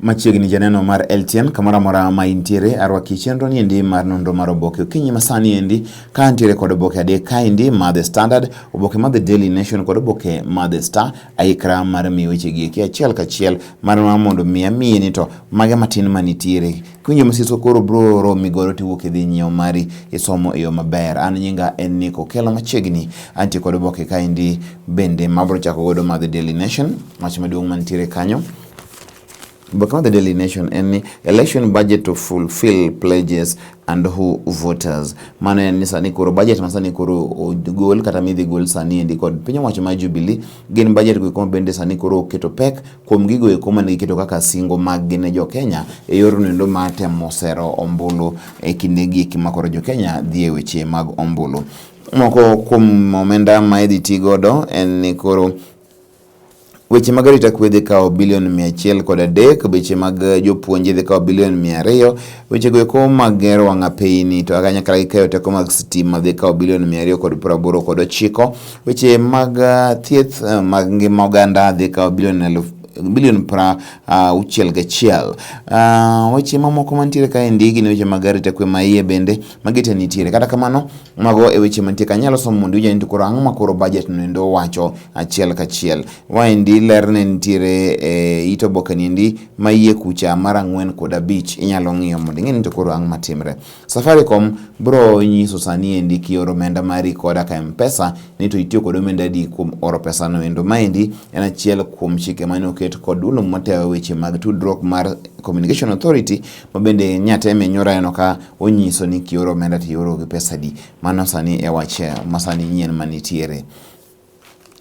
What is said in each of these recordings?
Machiegni janeno mar LTN kamoro amora ma intiere, arwaki chenro ni endi mar nonro mar oboke okinyi masani endi ka antiere kod oboke adek ka endi ma The Standard, oboke ma The Daily Nation kod oboke ma The Star. Aikra mar miyo weche gi eki achiel kachiel mar ma mondo mi amiye ni to mage matin manitiere. Kiwinjo masiso koro bro romi godo tiwuok idhi nyiewo mari isomo e yo maber. An nyinga en ni Kokelo machiegni antie kod oboke ka endi bende mabro chako godo ma The Daily Nation, wach maduong' mantiere kanyo. But what the Daily Nation any election budget to fulfill pledges and who voters mano en ni sani koro budget ma sani koro ogol kata midhi gol sani endi kod piny owacho ma Jubilee gin budget go koma bende sani koro oketo pek kuom gigo eko mane giketo kaka singo mag gine jo Kenya e yor nendo ma temo sero ombulu e kinde gi eki ma koro jo Kenya dhi e weche mag ombulu moko kuom omenda ma idhi ti godo en ni koro Weche mag arita kwe dhi kawo bilion mia achiel kod adek, weche mag eh, jopuonje dhi kawo bilion mia ariyo, weche go eko mag gero wang' apeyini to kanyakla gi keyo teko mag sitima dhi kawo bilion mia ariyo kod piero aboro kod ochiko, weche mag eh, thieth eh, mag ngima oganda dhi kawo bilion elfu bilion pra ah, auchiel gachiel. Ah, weche mamoko mantiere kaendi gin weche mag arita kwe maiye bende magite nitiere. Kata kamano, Mago e weche mantie ka nyalo somo mondo ija koro ang'o ma koro budget no endo wacho achiel kachiel. Waendi ler ne nitiere e it oboke ni endi ma iye kucha mar ang'wen kod abich inyalo ng'iyo mondo ing'e ni to koro ang'o matimre. Safaricom bro nyiso sani endi kioro omenda mari koda ka Mpesa ni to itiyo kod omenda adi kuom oro pesa no endo. Maendi en achiel kuom chike mane oket kod dulo matayo weche mag tudruok mar Communication Authority ma bende nyateme nyoro aneno ka onyiso ni kioro omenda to ioro gi pesa di mano sani e wach eh, masani nyien manitiere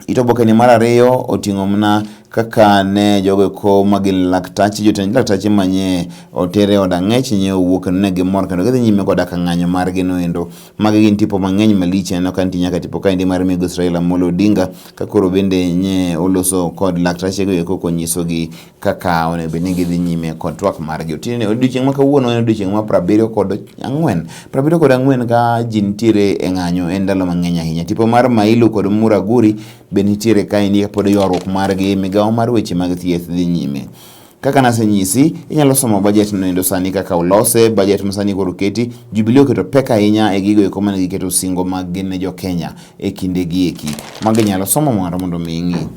it obokeni mar ariyo oting'o mana kaka ne jogo eko ma gin laktache jotend laktache manye otere od ang'ech nye owuo kendo ne gimor kendo gidhi nyime koda ka ng'anyo margi noendo magi gin tipo mang'eny malich aneno ka nitie nyaka tipo kaendi mar migosi Raila Amolo Odinga ka koro bende nye oloso kod laktachego eko konyisogi kaka onego bed ni gidhi nyime kod twak margi. Otieno odiochieng' ma kawuono en odiochieng' ma prabiriyo kod ang'wen. Prabiriyo kod ang'wen ka ji nitiere e ng'anyo en ndalo mang'eny ahinya. Tipo mar Mailu kod Muraguri be nitiere ka endi kapod ywaruok margi migawo mar weche mag thieth dhi nyime. Kaka nasenyisi, inyalo somo bajet no endo sani kaka olose, bajet ma sani koro keti. Jubilee oketo pek ahinya e gigo eko mane giketo singo mag gin ne jo Kenya e kinde gi eki. Magi inyalo somo mondo mondo mi ing'i.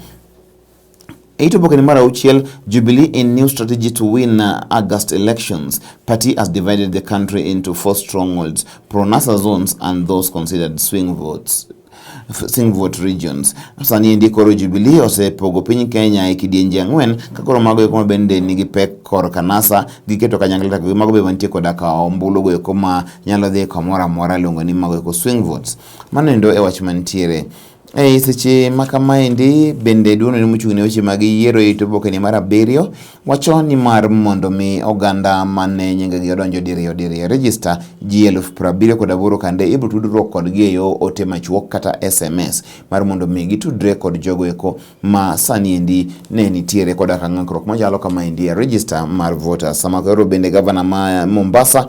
E it oboke ni mar auchiel, Jubilee in new strategy to win uh, August elections, party has divided the country into four strongholds, pro-NASA zones and those considered swing votes swing vote regions. Sani endi koro Jubilee osepogo piny Kenya e kidienje ang'wen ka koro mago eko ma bende nigi pek kor kanasa giketo kanyakla to mago be mantie koda ka ombulu go eko ma nyalo dhi kamoro amora luongo ni mago eko swing votes. Mano endo e wach mantiere. E seche ma kamaendi bende duono ne mochung' ne weche mag yiero e to bokeni mar abiriyo wacho ni mar mondo mi oganda mane nyingegi odonjo diriyo diriyo register ji eluf prabiriyo kod aboro kande ibiro tudruok kodgi e yo ote machuok kata SMS mar mondo mi gitudre kod jogo eko ma sani endi ne nitiere koda ka ng'ikruok machalo kamaendi e register mar voters. Sama koro bende gavana ma Mombasa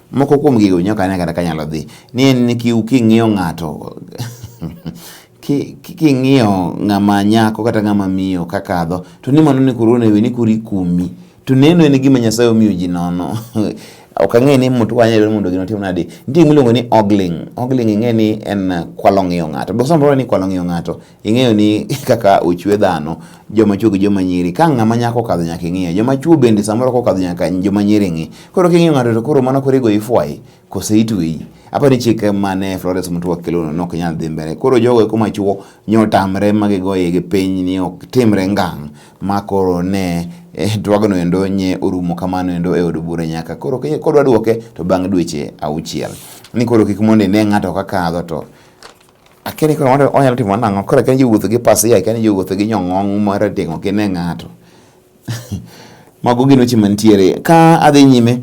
Moko kuom gigo winyo kane kata kanyalo dhi ni en ni king'iyo ng'ato king'iyo ng'ama nyako kata ng'ama miyo kakadho to ni mano ni koro onego ni koro ikumi to neno en gima Nyasaye omiyo ji nono ok ang'e ni mtu wanya dwaro mondo gino tim nadi nitie miluongo ni ogling ogling ing'e ni en kwalo ng'iyo ng'ato go samoro ni kwalo ng'iyo ng'ato ing'eyo ni kaka ochwe dhano joma chwo gi joma nyiri ka ng'ama nyako kadho nyaka ing'iye joma chwo bende samoro kokadho nyaka joma nyiri ng'i koro king'iyo ng'ato to koro mana korigo ifwayi kose itweyi apa ni chike mane Florence Mutua kelono nok nyal dhi mbele koro jogo eko machuo nyotamre magigoye gi piny ni ok timre ngang' ma koro ne eh, twagno endo nye orumo kamano endo e od bura nyaka koro kodwa duoke to bang' dweche auchiel ni koro kik mondo ine ng'ato kakadho to Akia ni koro wanyalo wanyalo timo nang'o. Koro akia ni jowuotho gi pasia, akia ni jowuotho gi nyong'ong' marateng' ok ine ng'ato. Mago gin weche mantiere. Ka adhi nyime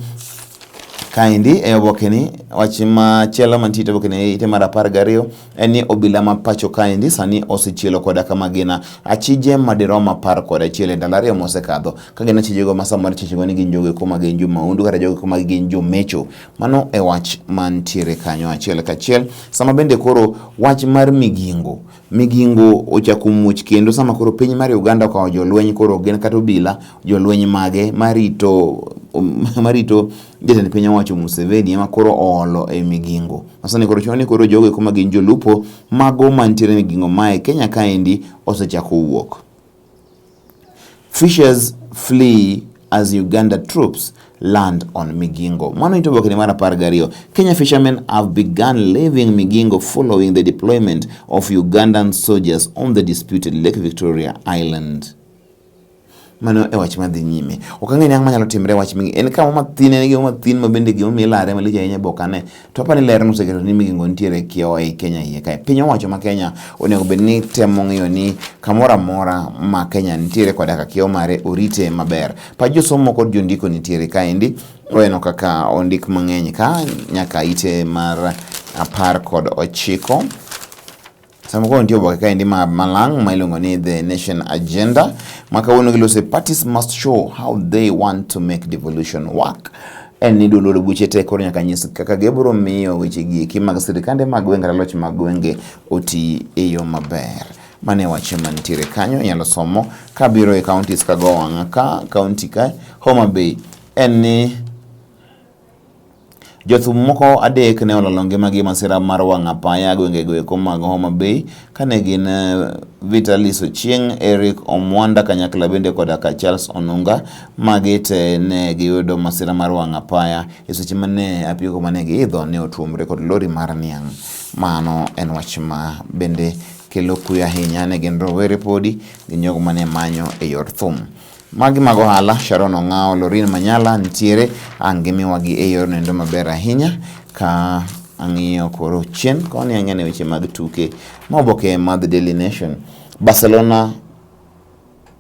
kaendi e obokeni wach machielo mantie e obokeni ite mar apar gariyo en ni obila ma pacho kaendi sani osechielo koda kama gina achije madirom apar kod achiel e ndalo ariyo mosekadho ka gin achijego ma samoro ichechego ni gin jogo eko ma gin jo maundu kata jogo eko ma gin jomecho Mano e wach mantiere kanyo achiel kachiel. Sama bende koro wach mar migingo, migingo ochako muoch kendo sama koro piny mar Uganda okawo jolweny koro gin kata obila jolweny mage marito um, marito jatend piny owacho Museveni ema koro oolo e migingo. Masani koro chuno ni koro jogo eko ma gin jolupo mago mantiere migingo mae Kenya kaendi osechako wuok. Fishers flee as Uganda troops land on Migingo. Mano ito oboke ni mar apar gariyo. Kenya fishermen have begun leaving Migingo following the deployment of Ugandan soldiers on the disputed Lake Victoria Island. Mano e wach madhi nyime. Ok ang'e ni ang'o manyalo timre wach mingi. En kama mathin en gi mathin ma bende gimomiyo ilare malich ahinya bokane. To apani ler noseketo ni migingo nitiere kiewo ei Kenya iye kae. Piny owacho ma Kenya onego bed ni temo ng'iyo ni kamoro amora ma Kenya nitiere koda ka kiewo mare orite maber. Pach josomo kod jondiko nitiere kaendi. Weno kaka ondik mang'eny ka nyaka ite mar apar kod ochiko. Sama koro nitie oboke kaendi ma malang' ma iluongo ni The Nation Agenda ma kawuono gilose parties must show how they want to make devolution work en ni dwololo buche te koro nyaka nyis kaka gibro miyo weche gieki mag sirikande mag gwenge kata loch mag gwenge oti e yo maber mane wach mantiere kanyo inyalo somo kabiro e counties kago wang'a ka county ka Homa Bay en ni Jothum moko adek ne olalo ngimagi e masira mar wang' apaya gwengego eko mag Homa Bay kane gin eh, Vitalis Ochieng', Eric Omwanda kanyakla bende koda ka Charles Onunga ma gite ne giyudo masira mar wang' apaya e seche mane apiko mane giidho ne otuomre kod lori mar niang'. Mano en wach ma bende kelo kuyo ahinya ne gin rowere podi gi jogo mane manyo e yor thum. Magi mag ohala, Sharon Ong'awo, Lorin Manyala nitiere, ang' gimiwagi e yor nendo maber ahinya ka ang'iyo koro chien koni ang'e ne weche mag tuke ma oboke ma The Daily Nation. Barcelona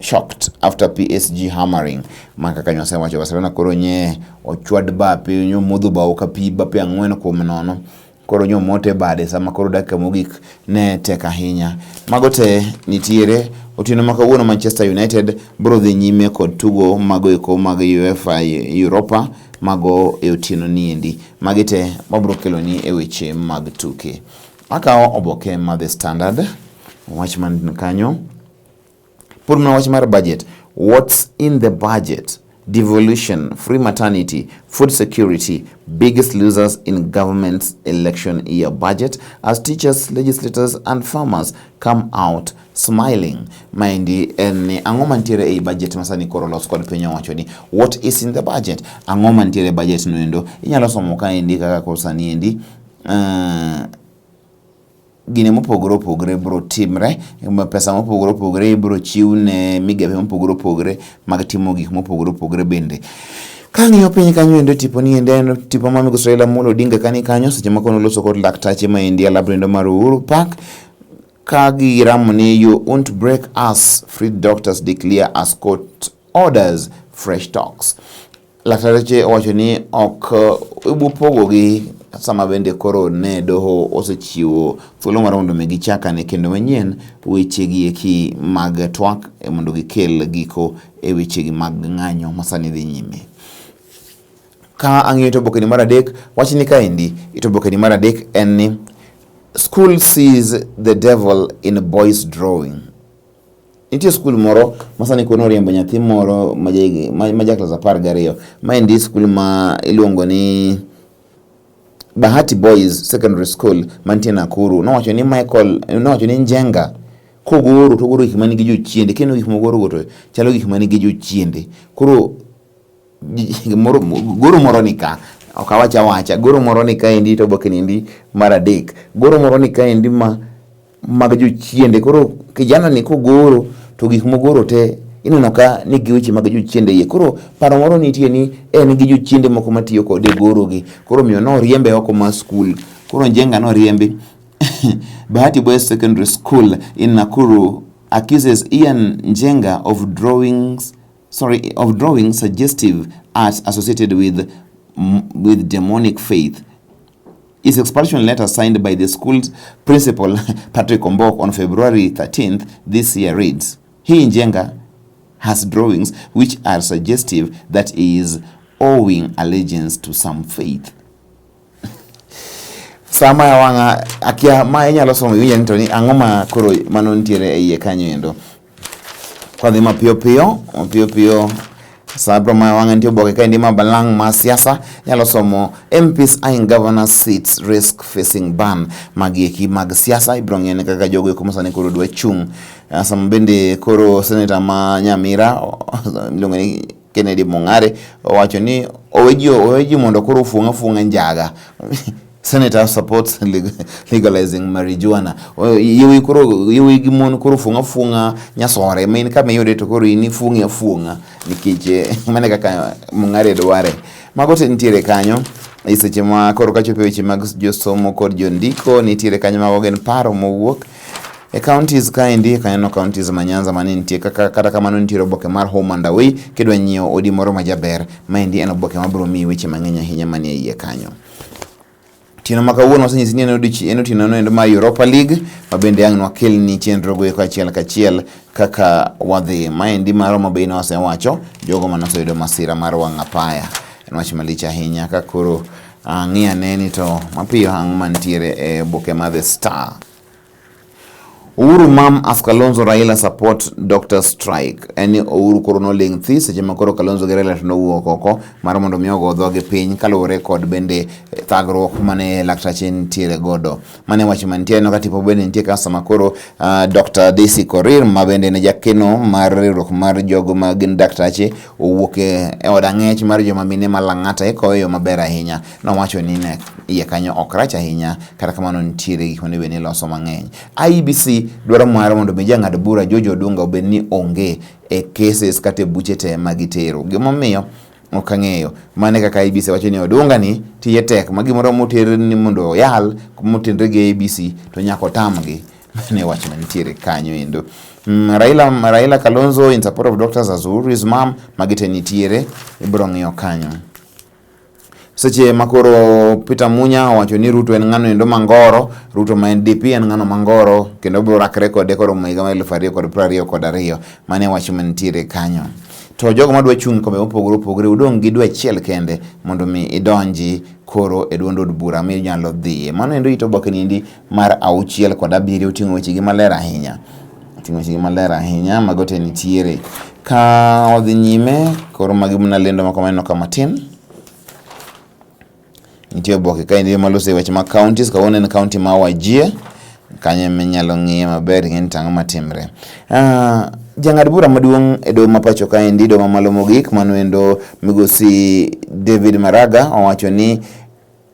shocked after PSG hammering ma kaka nyose wacho Barcelona koro nye ochwad bape nyomodho bao ka pi bape ang'wen kuom nono koro nyomot e bade sama koro dakika mogik ne tek ahinya. Mago te nitiere otieno ma kawuono Manchester United biro dhi nyime kod tugo mago eko mag UEFA Europa mago e otieno niendi. Magi te wabiro keloni e weche mag tuke. Akawo oboke ma The Standard wach man kanyo Pur mana wach mar budget. What's in the budget? Devolution, free maternity, food security, biggest losers in government's election year budget as teachers, legislators and farmers come out smiling. Maendi en ni ang'o mantiere ei budget masani koro los kod piny owacho ni what is in the budget? Ang'o mantiere budget noendo? Inyalo somo kaendi kaka koro sani endi uh, gine mopogore opogore biro timre, pesa mopogore opogore ibiro chiw ne migepe mopogore opogore mag timo gik mopogore opogore bende. Kang'iyo piny kanyo endo tipo ni endo en tipo ma migosi Raila Amolo Odinga kani kanyo seche moko noloso kod laktache ma endi alabra endo mar Uhuru Park ka giramo ni you won't break us free doctors declare us court orders fresh talks Laktareche owacho ni ok eh, ibupogogi sama bende koro ne doho osechiwo thuolo mar mondo mi gichakane kendo manyien wechegi eki mag twak eh, mondo gikel giko e wechegi mag ng'anyo masani dhi nyime ka ang'iyo tobokeni mar adek wach ni kaendi itobokeni mar adek en ni school sees the devil in boys drawing Nitie skul moro masani koro noriembo nyathi moro ma jaklas apar gariyo. Ma endi skul ma iluongo ni Bahati Boys Secondary School mantie Nakuru. Nowacho ni Michael, nowacho ni Njenga kogoro to ogoro gik ma nigi jochiende. Kineno gik mogorogo to chalo gik ma nigi jochiende. Koro gimoro goro moro ni ka, ok awach awacha, goro moro ni kaendi to oboke ni endi mar adek. Goro moro ni kaendi ma. mag jochiende. Koro kijana ni kogoro to gik mogoro te ineno ka ni gi weche mag jochiende iye. Koro paro moro nitie ni en gi jochiende moko matiyo kode e goro gi. Koro omiyo noriembe oko mar skul. Koro Njenga noriembi Bahati Boys Secondary School in Nakuru accuses Ian Njenga of drawings sorry of drawing suggestive arts associated with with demonic faith His expulsion letter signed by the school's principal Patrick Ombok on February 13th this year reads, He Njenga has drawings which are suggestive that he is owing allegiance to some faith. sama ya wanga akia ma inyalo somo iwinjo ni to ni ang'o ma koro mano nitiere e iye kanyo endo Kwadhi mapiyo piyo mapiyo piyo sabro ma wang'e nitie oboke ka endi ma balang' ma siasa nyalo somo MPs eyeing governor seats risk facing ban magi eki mag siasa ibiro ng'ene kaka jogo eko masani koro dwa chung' Ah, sama bende koro seneta ma Nyamira miluongo ni Kennedy Mung'are owacho ni owe ji mondo koro ofuong' afuong'a njaga Senator supports legalizing marijuana. Yewuoyi koro yewuoyi gi mon koro fuong'a fuong'a nyasore ma in kama iyude to koro in ifuong'i afuong'a nikech eh, mane kaka mung'are dware. Mago te nitiere kanyo e seche ma koro kachopo weche mag josomo kod jondiko nitiere kanyo mago gin paro mowuok E counties kaendi kaneno counties ma Nyanza mane nitie kaka kata kamano nitie oboke mar Home and Away kidwa nyiewo odi moro ma jaber maendi en oboke ma biro miyi weche mang'eny ahinya manie iye kanyo. Tieno ma kawuono wasenyisi ni en odiochieng' en otieno noendo mar Europa League ma bende ang' nwakelni chenro goeko achiel kachiel kaka wadhi. Maendi mar Roma Bay ne wasewacho jogo mane oseyudo masira mar wang' apaya. En wach malich ahinya ka koro Ang'i ane ni to mapiyo hang' mantiere e oboke ma The Star. Uhuru mam as Kalonzo Raila support doctor strike. En ni Uhuru koro noling' thi seche ma koro Kalonzo gi Raila to nowuok oko mar mondo mi ogo dhogi piny kaluwore kod bende eh, thagruok mane laktache nitiere godo. Mane wach mantie no katipo bende nitie customer koro uh, Dr. DC Korir ma bende ne jakeno mar riwruok mar jogo ma gin daktache owuok e od ang'ech mar joma mine ma Lang'ata e koyo yo maber ahinya. Nowacho ni ne iye kanyo ok rach ahinya kata kamano nitiere gik monego bed ni loso mang'eny. IEBC dwaro mare mondo mi jang'ad bura George Odunga obed ni onge e cases kata e buche te ma gitero. Gimomiyo ok ang'eyo mane kaka abc wacho ni odunga ni tiye tek ma gimoro moter ni mondo oyal motenre gi abc to nyaka otamgi mane wach manitiere kanyo endo mm, Raila, Raila Kalonzo in support of Dr. Zazur his mom magite nitiere ibro ng'iyo kanyo seche makoro Peter Munya owacho ni Ruto en ng'ano endo mangoro, Ruto ma en DP en ng'ano mangoro kendo obiro rakre kode koro higa mar eluf ariyo kod piero ariyo kod ariyo mane wacho mantiere kanyo. to jogo madwa chung' e kombe mopogore opogore udong' gi dwe achiel kende mondo mi idonji koro e duond od bura minyalo dhiye. Mano endo ito oboke niendi mar auchiel kod abiriyo oting'o wechegi maler ahinya. Oting'o wechegi maler ahinya mago te nitiere. Ka odhi nyime koro magi mna lendo moko maneno ka matin. Nitie oboke ka indio malose e weche mag counties, kawuono en county ma Wajir, kanyo ema inyalo ng'iye maber ing'e ni to ang'o matimre. Ah, Jang'ad bura maduong' e doho ma pacho kaendi, doho mamalo mogik, mano endo migosi David Maraga owacho ni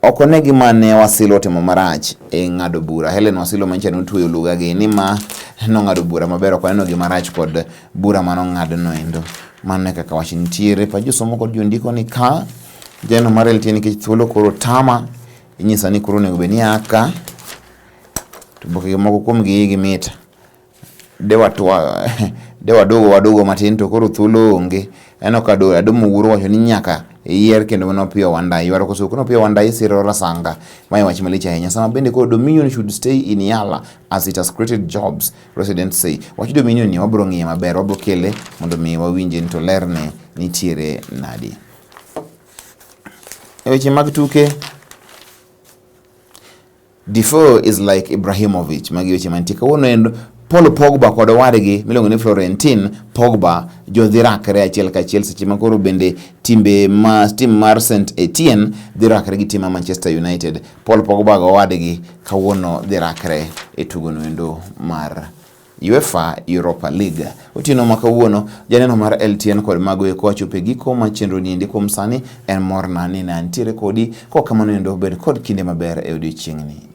ok one gima ne Wasilo otimo marach e ng'ado bura. Helen Wasilo manyicha notweyo lugagi ni ma nong'ado bura maber, ok oneno gima rach kod bura manong'adno endo. Mano e kaka wach nitiere pa josomo kod jondiko ni ka Jeno mar LT nikech thuolo koro tama, inyisa ni koro onego bed ni aka to bokege moko kuom gi igi mit de watwa de wadogo wadogo matin to koro thuolo onge eno ka do adomo wuoro wacho ni nyaka iyier kendo mano piyo wanda ywaro koso kono piyo wanda isiro rasanga mae wach malich ahinya sama bende koro dominion should stay in yala as it has created jobs residents say wach dominion ni wabro ng'iye maber wabro kele mondo mi wawinje ni to lerne nitiere nadi E weche mag tuke, Defoe is like Ibrahimovic. Magi weche mantie kawuono en Paul Pogba kod owadgi miluongo ni Florentin Pogba jodhi rakre achiel kachiel seche ma koro bende timbe ma tim mar St Etienne dhi rakre gi tim mar Manchester United. Paul Pogba gi owadgi kawuono dhi rakre e tugono endo mar UEFA Europa League. Otieno ma kawuono, janeno mar LTN kod mago eko wachopo e giko ma chenro ni endi kuom sani en morna ni ne antiere kodi kok kamano endo bed kod kinde maber e odiechieng'ni.